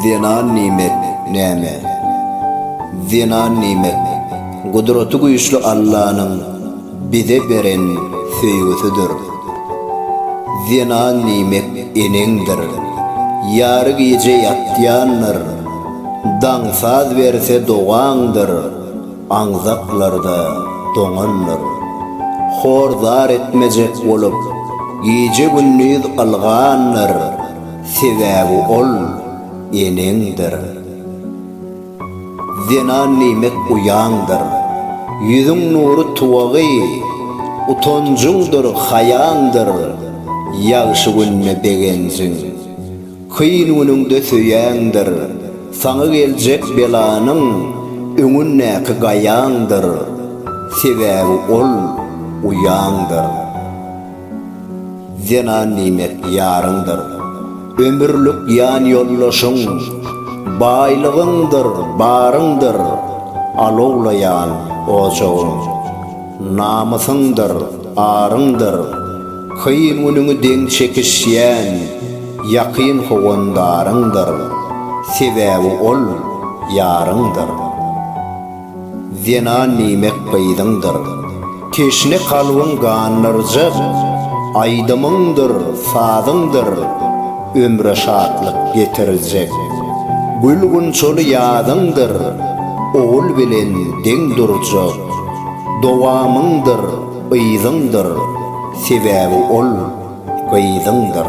Zenan nimet, näme? Zenan nimet, Gudraty güýçli Allanyň bize beren söýgüsidir. Zenan nimet eneňdir. Ýary gije ýatýandyr. Daň saz berse dogaňdyr. Aňzaklarda doňandyr. Hor zar etmejek bolup, gije-gündiz ylgandyr. Sebäbi ol eneňdir. Zenan diýmek uýaňdyr. Ýüzüň nury tuwagy, utanjyňdyr, haýaňdyr. Ýagşy günde begenjiň, kyn günüňde söýäňdir. Saňa geljek belanyň öňündäki gaýaňdyr. Sebäbi ol uýaňdyr. Zenan nimet ýaryňdyr. Ömürlik ýan ýoldaşyň. Baýlygyňdyr, baryňdyr. Alowlaýan ojagyň. Namysyňdyr, aryňdyr. Kyn günüňi deň çekişýän. Ýakyn howandaryňdyr. Sebäbi ol, ýaryňdyr. Zenan diýmek gyzyňdyr. Teşne kalbyň gandyrjak, Aýdymyňdyr, sazyňdyr, Ömre şatlyk getirjek. Gül-gunçaly ýazyňdyr, Ogul bilen deň durjak, Dowamyňdyr, yzyňdyr, Sebäbi ol gyzyňdyr.